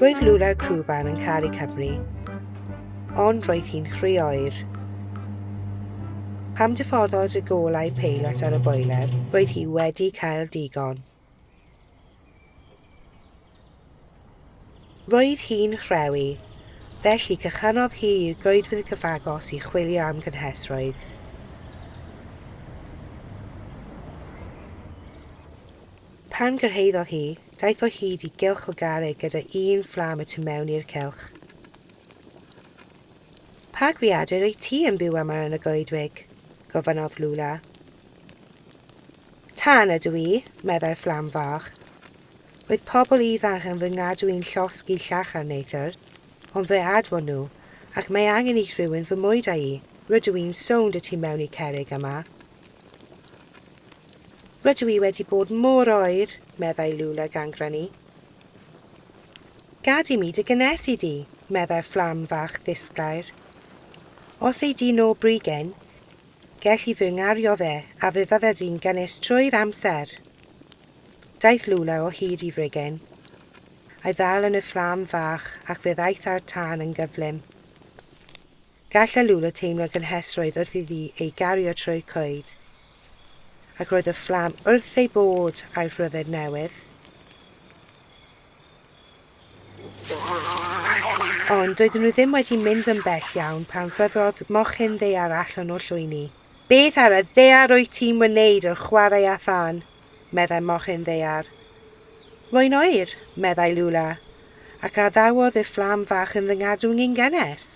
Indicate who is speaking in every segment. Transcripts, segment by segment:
Speaker 1: Roedd Lula'r crwban yn caru Cymru, ond roedd hi'n rhy oer. Pam diffoddod y golau peilot ar y boiler? Roedd hi wedi cael digon. Roedd hi'n rhewi, felly cychanodd hi i'r goedwig gyfagos i chwilio am gynhesrwydd. Pan gyrhaeddodd hi, Daeth o hyd i gylch o garreg gyda un fflam y tu mewn i'r cylch. Pa greadur wyt ti yn byw yma yn y goedwig? gofynnodd Lula. Tân ydw i, meddai'r fflam fach. Roedd pobl ifanc yn fy ngadw i'n llosgi llach ar neithr, ond fe adfon nhw, ac mae angen i rhywun fy mwyd â i, rydw i'n sownd y tu mewn i cerrig yma, Rydw i wedi bod mor oer, meddai Lula gangrenu. Gad i mi dy gynnes i di, meddai'r fflam fach ddisglair. Os ei di no brigyn, gell i fy ngario fe a fe fydde di'n gynnes trwy'r amser. Daeth Lula o hyd i frigyn. A'i ddal yn y fflam fach ac fe ddaeth â'r tân yn gyflym. Gall Alula teimlo gynhesrwydd wrth iddi ei gario trwy'r coed, ac roedd y fflam wrth ei bodd â'i rhyddid newydd. Ond doedden nhw ddim wedi mynd yn bell iawn pan rhoddodd mochyn ddaear allan o llwyni. Beth ar y ddaear wyt ti'n wneud yn chwarae â thân? meddai mochyn ddaear. Rwy'n oer, meddai Lula, ac addawodd y fflam fach yn fy ngadwyn i'n gynnes.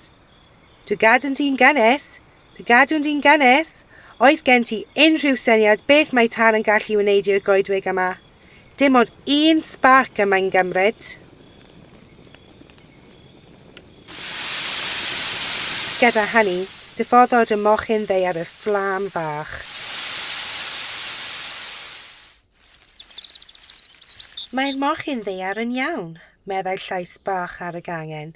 Speaker 1: Dy gadwyn di'n gynnes? Dy gadwyn di'n gynnes? Oes gen ti unrhyw syniad beth mae tân yn gallu wneud i'r goedwig yma? Dim ond un sbarc y mae'n gymryd. Gyda hynny, diffoddwyd y mochyn ddaear i'r fflam fach. Mae'r mochyn ddaear yn iawn, meddai llais bach ar y gangen.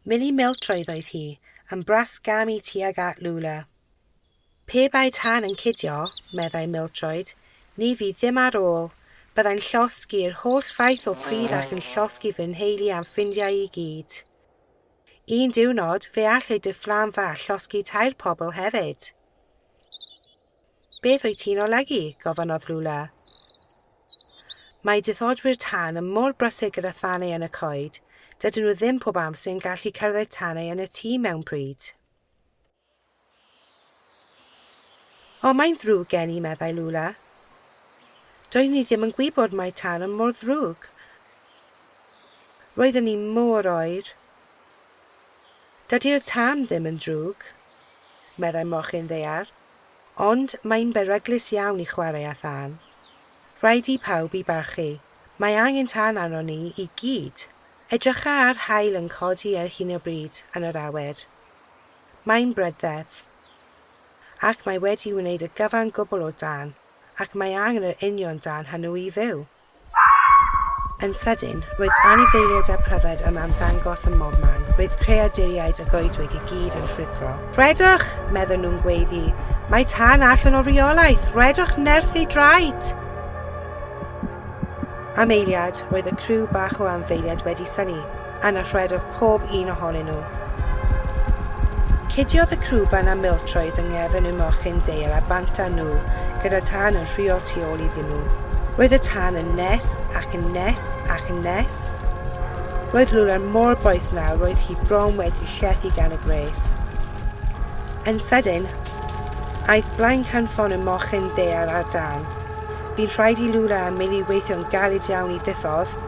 Speaker 1: Milly Miltroedd oedd hi, yn bras gam i tuag at Lula. Pe bai tân yn cidio, meddai Mildroed, ni fydd ddim ar ôl. Byddai'n llosgi i'r holl faith o pridd ac yn llosgi fy nheulu a'm ffrindiau i gyd. Un diwrnod, fe allai dy fflam fach llosgi tair pobl hefyd. Beth wyt ti'n olygu? gofynnodd Lula. Mae diffodwyr tân yn mor brysur gyda thanau yn y coed, dydyn nhw ddim pob amser yn gallu cyrraedd tanau yn y tŷ mewnbryd. O, mae'n ddrwg gen i, meddai Lula. Doeddwn i ddim yn gwybod mai tân yn mor ddrwg. Roedden ni mor oer. Dydy'r tân ddim yn ddrwg, meddai mochyn ddaear, ond mae'n beryglus iawn i chwarae â thân. Rhaid i pawb i barchu. Mae angen tân arnon ni i gyd. Edrycha ar haul yn codi ar hyn o bryd yn yr awyr. Mae'n brydded. Ac mae wedi wneud y gyfan gwbl o dân, ac mae angen yr union dân hynw i fyw. Yn sydyn, roedd anifeiliaid a phryfed yma'n ymddangos ym mobman, roedd creaduriaid y goedwig i gyd yn rhuthro. Rhedwch! meddwn nhw'n gweiddi. Mae tân allan o reolaeth! Rhedwch nerth ei draed! Am eiliad, roedd y criw bach o anfeiliaid wedi synnu, Yna rhedodd pob un ohonyn nhw. Cudiodd y crwban a miltroedd yng nghefn y mochyn deil a bant â nhw, gyda tân yn rhuo tu ôl iddyn nhw. Roedd y tân yn nes ac yn nes ac yn nes. Roedd Lula mor boeth nawr roedd hi bron wedi llethu gan y gwres. Yn sydyn, aeth blaen canfon y mochyn ddeil ar dân. Bu'n rhaid i Lula a Milly weithio'n galed iawn i ddiffodd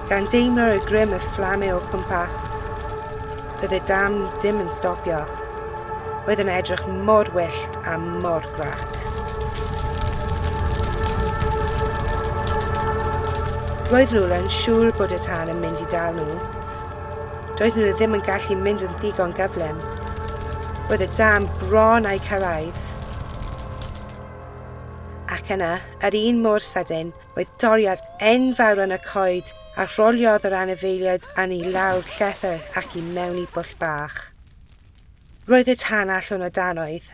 Speaker 1: Gan deimlo'r y grym y fflamau o cwmpas, doedd y dam ddim yn stopio. Oedd yn edrych mor wyllt a mor grac. Roedd Lula yn siŵr bod y tân yn mynd i dal nhw. Doedd nhw ddim yn gallu mynd yn ddigon gyflym. Roedd y dam bron a'i cyrraedd. Ac yna, yr un mor sydyn, Roedd doriad enfawr yn y coed a rholiodd yr anifeiliaid yn i lawr llethr ac i mewn i bwll bach. Roedd y tân allwn o dan oedd,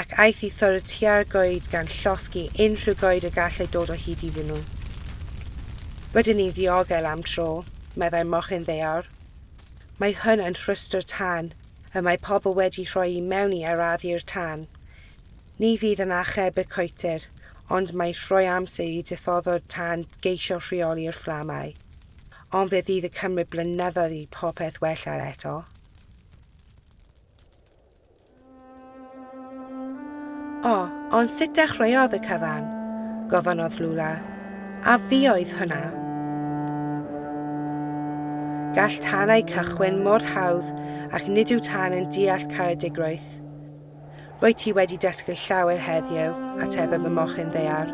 Speaker 1: ac aeth i ffwrdd tua'r goed gan llosgi unrhyw goed y gallai dod o hyd iddyn nhw. Rydyn ni'n ddiogel am dro, meddai mochyn ddaear. Mae hwn yn rhwystr tân, y mae pobl wedi rhoi i mewn i arafu'r tân. Ni fydd yn achub y coetir, ond mae rhoi amser i ddiffoddwr tân geisio rheoli'r fflamau. Ond fe fydd y cymryd blynyddoedd i popeth wella eto. O, ond sut dechreuodd y cyfan? gofynnodd Lula. A fi oedd hwnna? Gall tanau cychwyn mor hawdd ac nid yw tân yn deall caredigrwydd. Rwyt ti wedi dysgu llawer heddiw, atebodd y mochyn ddaear.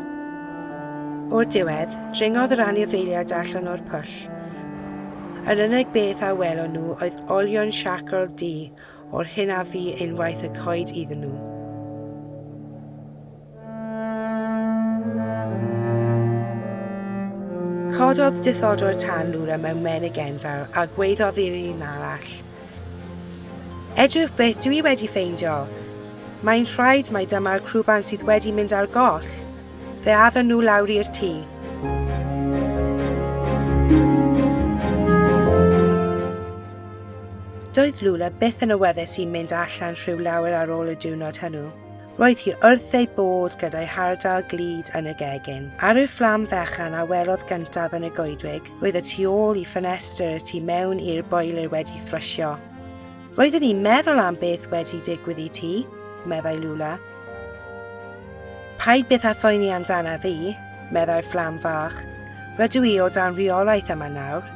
Speaker 1: O'r diwedd, dringodd yr anifeiliaid allan o'r pwll. Yr unig beth a welon nhw oedd olion siarcol du o'r hyn a fu unwaith y coed iddyn nhw. Cododd diffodwr tân lura mewn menig enfawr a gwaeddodd i'r un arall, Edrych beth dw i wedi ffeindio! Mae'n rhaid mai dyma'r crwban sydd wedi mynd ar goll! Fe addon nhw lawr i'r tŷ. Doedd Lula byth yn awyddus i mynd allan rhyw lawer ar ôl y diwrnod hwnnw. Roedd hi wrth ei bod gyda'i hardal glud yn y gegin. Ar y fflam fechan a welodd gyntaf yn y goedwig, roedd y tu ôl i ffenestr y tu mewn i'r boeler wedi thrysio. Roedden ni'n meddwl am beth wedi digwydd i ti, meddai Lula. Paid byth â phoeni amdana fi, meddai'r fflam fach. Rydw i o dan rheolaeth yma nawr.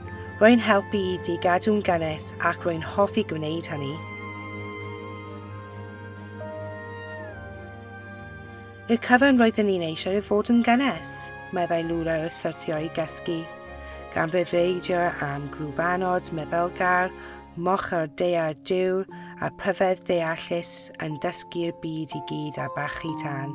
Speaker 1: Rwy'n helpu i di gadw'n gynnes ac rwy'n hoffi gwneud hynny. Y cyfan roedden ni'n eisiau ei fod yn gynnes, meddai Lula wrth syrthio i gysgu, gan fe feidio am grŵp anod, meddylgar, moch ar dear dŵr a pryfed ddeallus yn dysgu'r byd i gyd a barchu tân.